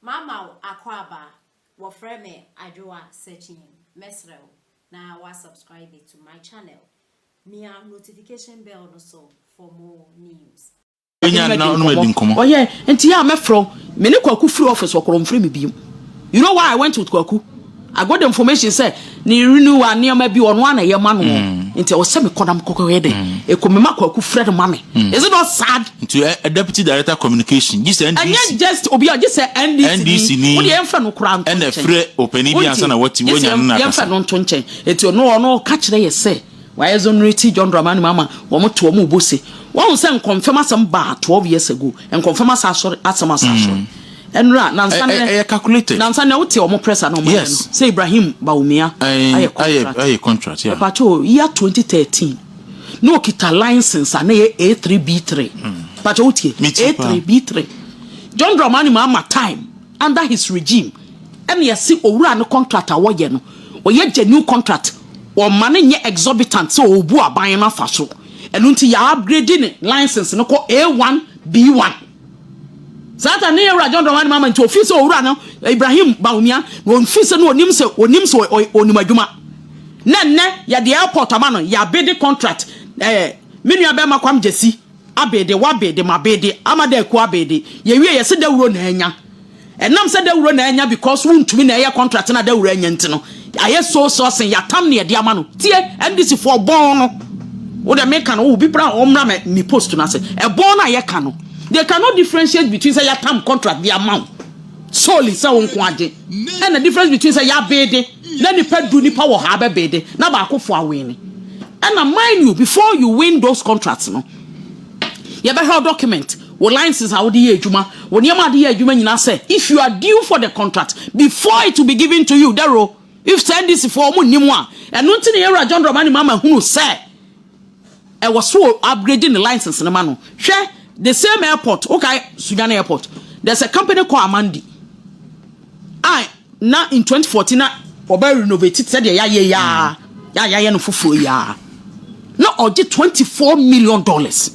Mama wo akwaaba, wɔfrɛ me Adwoa Sekyeen, mɛsrɛ wo na wa subscribe to my channel, mia notification bell no so for more news. Yɛne no adi nkɔmmɔ. Ɔyɛ nti a mɛfrɛ wo. Me ne Kwaku firi office wɔ Korɔ ɔmfrɛ me bio. You know why I went with Kwaku? I got the information sɛ ne renewal nneɛma bi ɔno a na ɛyɛ ma no mm. nti ɛwɔ sɛ mekɔ na mekɔkɔyɛ dɛ mm. ɛkɔ mema kwaku frɛ no ma me mm. is it not sad nti ɛ eh, eh, deputy director communication gye sɛ ndc ɛnyɛ just obi a gye sɛ ndc ni wode yɛmfɛ no koraa nto nkyɛn ɛna frɛ ɔpani bi ansa na wɔte wɔnya no na akasa yɛmfɛ no nto nkyɛn ɛti ɔno ɔno ka kyerɛ yɛ sɛ Wɔ exonerate John Dramani Mahama wɔn to wɔn bo se wahu sɛ nkɔmfɛm asɛm baa twelve years ago nkɔmfɛm asa asɔre asɛm asa asɔre ɛnra nansa nɛ ɛyɛ calculated nansa nɛ wote wɔn press ano wɔn yes. no sɛ Ibrahim Bawumia ayɛ contract ayɛ contract yeah. ɛpakyɛ o year twenty thirteen na okita license a na yɛ A three B three ɛpakyɛ wotie A three B three John Dramani Mahama time. Under his regime ɛna yɛse owura no contract a wɔyɛ no ɔyɛ genuine contract, wɔmma no nyɛ exorbitant sɛ ɔrebu aban no afa so, ɛno nti yɛ upgrade ne license no kɔ A1, B1. Saa time no Yɛwura John Dramani Mahama nti ɔfii sɛ owura no Ibrahim Bawumia na ɔfii sɛ no ɔnim sɛ ɔnim sɛ ɔnim adwuma na nnɛ yɛde airport ama no, yɛ abede contract ɛɛ me nua bɛrima Kwam Gyasi. Abede w'abede m'abede ama dɛ aku abede yɛwie yɛse dawuro na anya ɛnam sɛ dawuro na anya because wontumi na ɛyɛ contract na dawuro anya nti no ayɛ so so sen yɛatam ne ɛde ama no tie NDC foɔ bɔn no wodɛ meka no obi bra ɔmmra mɛ me post no ase ɛbɔn no a yɛka no they cannot differentiate between sɛ yɛatam contract de ama wo solely sɛ wo nko agye ɛna difference between sɛ yɛabede Na nipa du nipa wɔ haa bɛbede na baako foɔ awene ɛna mind you before you win those contracts no yɛbɛhwɛ wo document wo license a wode yɛ adwuma wo nneɛma a wode yɛ adwuma nyinaa sɛ if you are due for the contract before it will be given to you daro if sɛ ndc foɔ ɔmo nnim a ɛno nti na yɛwura John Dramani Mahama hunu sɛ ɛwɔ so upgrade ne license no ma no hwɛ the same airport wokae Sunyani airport there's a company called Amandi I Na in twenty fourteen na wɔbɛ renovate it sɛdeɛ yɛayɛ yi ara yɛ a yɛayɛ no foforɔ yi ara na ɔgye twenty four million dollars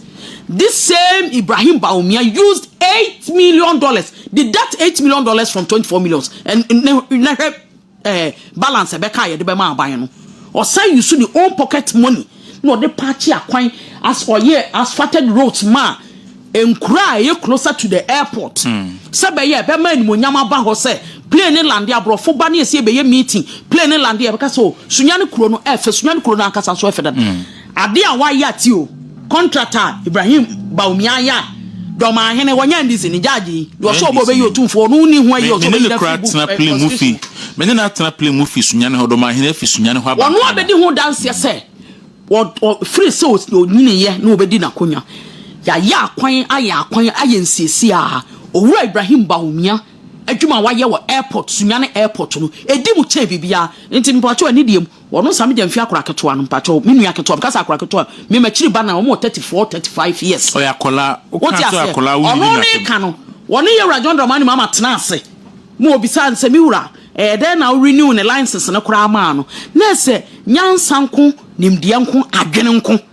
this same ibrahim baumia used eight million dollars deduct eight million dollars from twenty four millions and ne na hwɛ ɛɛ balance ɛbɛka a yɛde bɛma aban no ɔsan yi so ne own pocket money na ɔde paakye akwan as ɔyɛɛ asphalted roads maa nkuro a ɛyɛ closer to the airport sɛ bɛyɛ a ɛbɛma animuonyam aba hɔ sɛ plane no lande aborɔfo ba ne ɛsɛ ɛbɛyɛ meeting plane no lande a ɛbɛka sɛ o oh, sunyane kuro no ɛfɛ sunyane kuro no ankasa nso ɛfɛ dada mm. adeɛ a wayɛ ate o contract a Ibrahim Bawumia ayɛ a Dɔmaa hene, wɔnyɛ andi sini, gyagye yi, deɛ ɔsɔ ɔbɔ ɔbɛyi otumfoɔ, ɔno wonni hua yi, ɔsɔ ɔbɛyi da firi bu, ɛɛ, ɔsɛ su. Me ne no atena plen mu fi Sunyane hɔ, Dɔmaa hene afi Sunyane hɔ aba Nkaano. Ɔno abɛdi ho danseɛ sɛ, wɔ, ɔ, firi sɛ ɔs, ɔnyiniiɛ na ɔbɛdi n'akonwa. Yɛayɛ akwan, ayɛ akwan, ayɛ nsiesie a, Owura Ibrahim Bawumia adwuma a wayɛ wɔ airport, Sunyane airport no, ɛdi mu kyɛn biribiara. Nti mepakyɛw, anidie mu, Wɔno saa megya mfi akora ketewa no mpakyɛw me nua ketewa meka sɛ akora ketewa me makyiri ba no a ɔmo wɔ thirty four thirty five years Ɔyɛ akɔlaa wote wokaa sɛ aseɛ akɔlaa wonyini ɔno ne n'asɛm. ka no wɔne yɛwura John Dramani Mahama tena ase ma ɔbisaa no sɛ me wura ɛyɛ dɛn na wo renew ne license no koraa maa no na ɛsɛ nyansa nko nimdeɛ nko adwene nko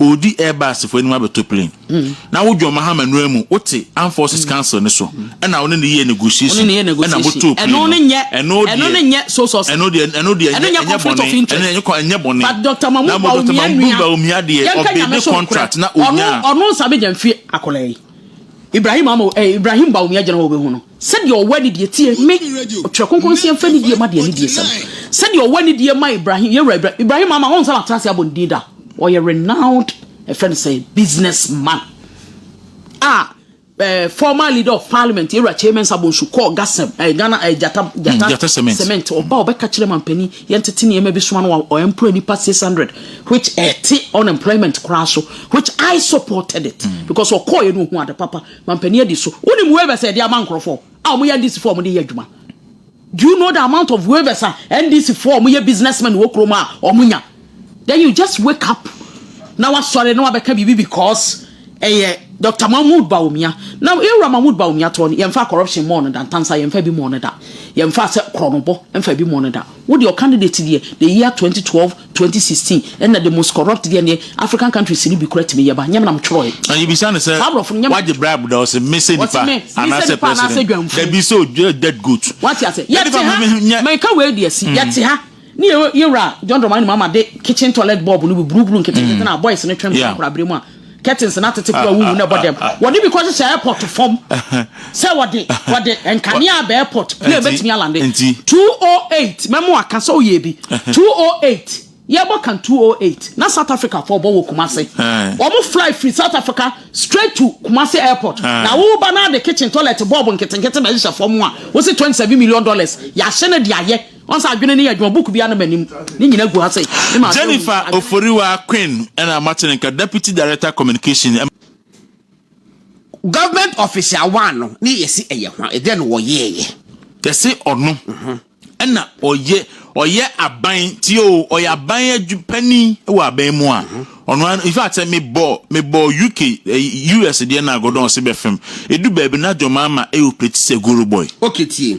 ɔredi Airbus foɔ anim abɛtɔ plane na wo John Mahama nnura mu wote Armed Forces Council no so ɛna wo ne ne yɛ negotiation ɛna motoo plane no ɛno deɛ ɛno deɛ ɛno deɛ ɛnyɛ bɔne ɛnyɛ bɔne na Dr. Mahmoud Bawumia deɛ ɔbɛ ne contract na ɔnyaa Ibrahim Bawumia gyina hɔ ɔbɛhu no Sɛdeɛ ɔwɔ anidie tie Me, Ɔtwerɛ Kronkron se yɛmfa anidie ma deɛ anidie sɛ no. Sɛdeɛ ɔwɔ anidie ma Ibrahim, yɛn Wura Ibrahim, Ibrahim ama, wɔn nsa na atenase abɔ ne din da. Ɔyɛ renowned, yɛfrɛ no sɛ business man a eh, former leader of parliament, yɛn Wura Kyei Mensah Bonsu kɔɔ Gasem, eh, Ghana, eh, Gyata, Gyata, mm, Gyata Cement. Cement. Ɔba a ɔbɛka kyerɛ mampanin, yɛntete nneɛma bi soma no a ɔemploy nipa 600, which ɛte unemployment koraa so, which I supported it, mm. because ɔkɔɔeɛ no ɔhu ade papa. Mampanin adi so. Wonim waivers a yɛde ama nkurɔfoɔ a wɔyɛ NDC foɔ a wɔde yɛ adwuma? Do you know the amount of waivers a NDC foɔ a wɔyɛ businessmen wɔ kurom a wɔnya? Then you just wake up na wasɔre na wabɛka biribi because ɛyɛ Dr. Mahmood Bawumia. Na yɛwura Mahmood Bawumia toɔ no, yɛmfa corruption mmɔɔ no da, ntansa yɛmfa bi mmɔɔ no da, yɛmfa sɛ korɔnobɔ mfa bi mmɔɔ no da. Wo deɛ ɔcandidate deɛ the year 2012 Twenty sixteen ɛna the most corrupt deɛ neɛ African countries no bi kora tumi yɛ ba nyɛ me na me twerɛ yɛ. Na yɛbisa no sɛ wagye bribe da ɔse me sɛ nipa anaasɛ president dabi sɛ ɔyɛ dead goat. Wate ase yɛte ha meka wei deɛ si yɛte ha ne yɛwura John Dramani Mahama de kitchen toilet bulb no bi brubru nketenkete na boys no twɛm kɔ akora bere mu a. curtains na tete kura wuhu na ɛbɔ dɛm wɔde bi kɔhyehyɛ airport fam sɛ wɔde wɔde nkanea abɛ airport plane bɛtumi alande 208 mɛmo aka sɛ ɔyɛ bi 208 yɛbɔ kan 208 na South Africa fɔ ɔbɔ wɔ Kumase wɔn fly firi South Africa straight to Kumase airport na woba na de kitchen toilet bulb nketenkete bɛhyehyɛ fam a wosi 27 million dollars yɛahyɛ no de ayɛ Jennifer Oforiwa Quinn na moate ne nka, Deputy Director Communication. Government office a wɔano ne yɛse ɛyɛ hwan, ɛdeɛn na wɔyɛɛyɛ? Yɛse ɔno na ɔyɛ ɔyɛ aban ti oo, ɔyɛ aban adwu panin wɔ aban mu a, ɔno ara in fact sɛ mebɔ mebɔ UK US deɛ na Gordon ɔse bɛfem, ɛdu baabi na John Mahama ɛoperate sɛ Guru boy. Okay tie.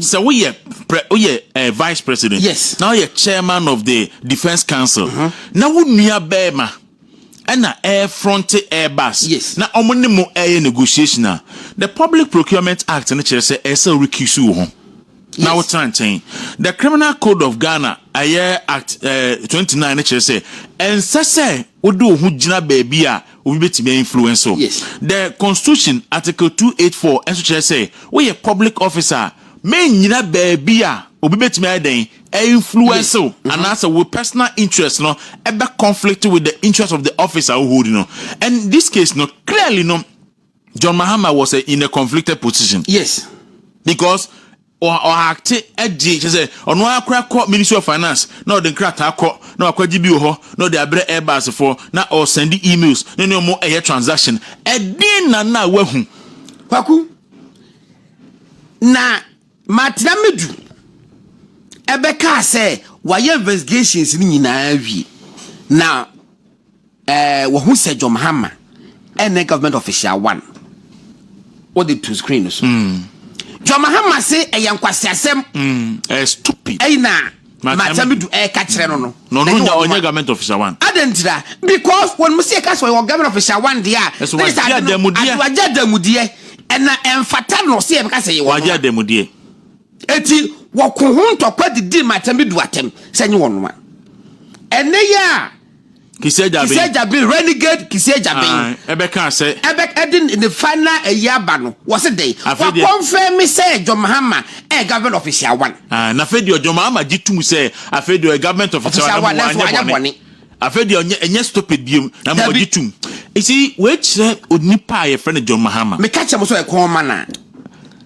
sɛ woyɛ pre woyɛ uh, eh, vice president yes na woyɛ chairman of the defence council uh-huh. na wo nua bɛrima ɛna ɛrefronte airbus yes na wɔn ne mo ɛyɛ negotiation a the public procurement act no kyerɛ sɛ ɛsɛ wo recuse wo ho na wotena nkyɛn. The Criminal Code of Ghana, ɛyɛ Act eh, 29 no kyerɛ sɛ ɛnsɛ sɛ wode wo ho gyina baabi a obi bɛtumi ainfluence wo. Yes. The Constitution, Article 284 nso kyerɛ sɛ woyɛ public officer a, mennyina baabi a obi bɛtumi ayɛ dɛn influence wo mm-hmm. anaasɛ wo personal interest no ɛbɛ conflict with the interest of the office a wohold no. And this case no clearly no John Mahama was a, in a conflicted position. Yes. Because ɔhakte agye kyɛ sɛ ɔno ara kora kɔ ministry of finance na ɔde nkrataa kɔ na wakɔgye bi wɔ hɔ na ɔde abrɛ airbus foɔ na ɔsɛnde emails ne ne ɔmo ɛyɛ transaction ɛdin na na wahu. kwaku na matena medu ɛbɛkaa sɛ wayɛ investigations no nyinaa wie na Eh wahu sɛ John Mahama ɛnɛ government official one wɔde to screen no so mm. John Mahama se ɛyɛ nkwasiasɛm mm. eh, stupid ɛyi na makyɛmi du ɛka eh, kyerɛ no no na ɔno nya ɔnyɛ government official one adan tira because wɔn mu si ɛka sɛ ɔyɛ government official one deɛ a ɛsɛ wagye adamudeɛ wagye adamudeɛ ɛna ɛnfata no sɛ ɛbɛka sɛ yɛ wɔn wagye adamudeɛ eti wɔko ho ntɔkwa didi makyɛmi du atɛm sɛ nye wɔn noma ɛnɛ yɛ a. Kisi Agyaben. Kisi Agyaben renegade Kisi Agyaben. Ah, ɛbɛka sɛ. Ɛbɛ ɛde ne final ɛyi aba no wɔsi dɛ. Afei deɛ. Wakɔnfɛn mi sɛ John Mahama ɛyɛ government official one. Ah, na afei deɛ John Mahama gye tum sɛ afei deɛ ɔyɛ government official one na mo wanyɛ bɔne. Afei deɛ ɔnyɛ ɛnyɛ stupid biem na mo ɔgye tum. Esi wei kyerɛ onipa a yɛfrɛ no John Mahama. Meka kyerɛ mo sɛ ɔyɛ kɔn ma na.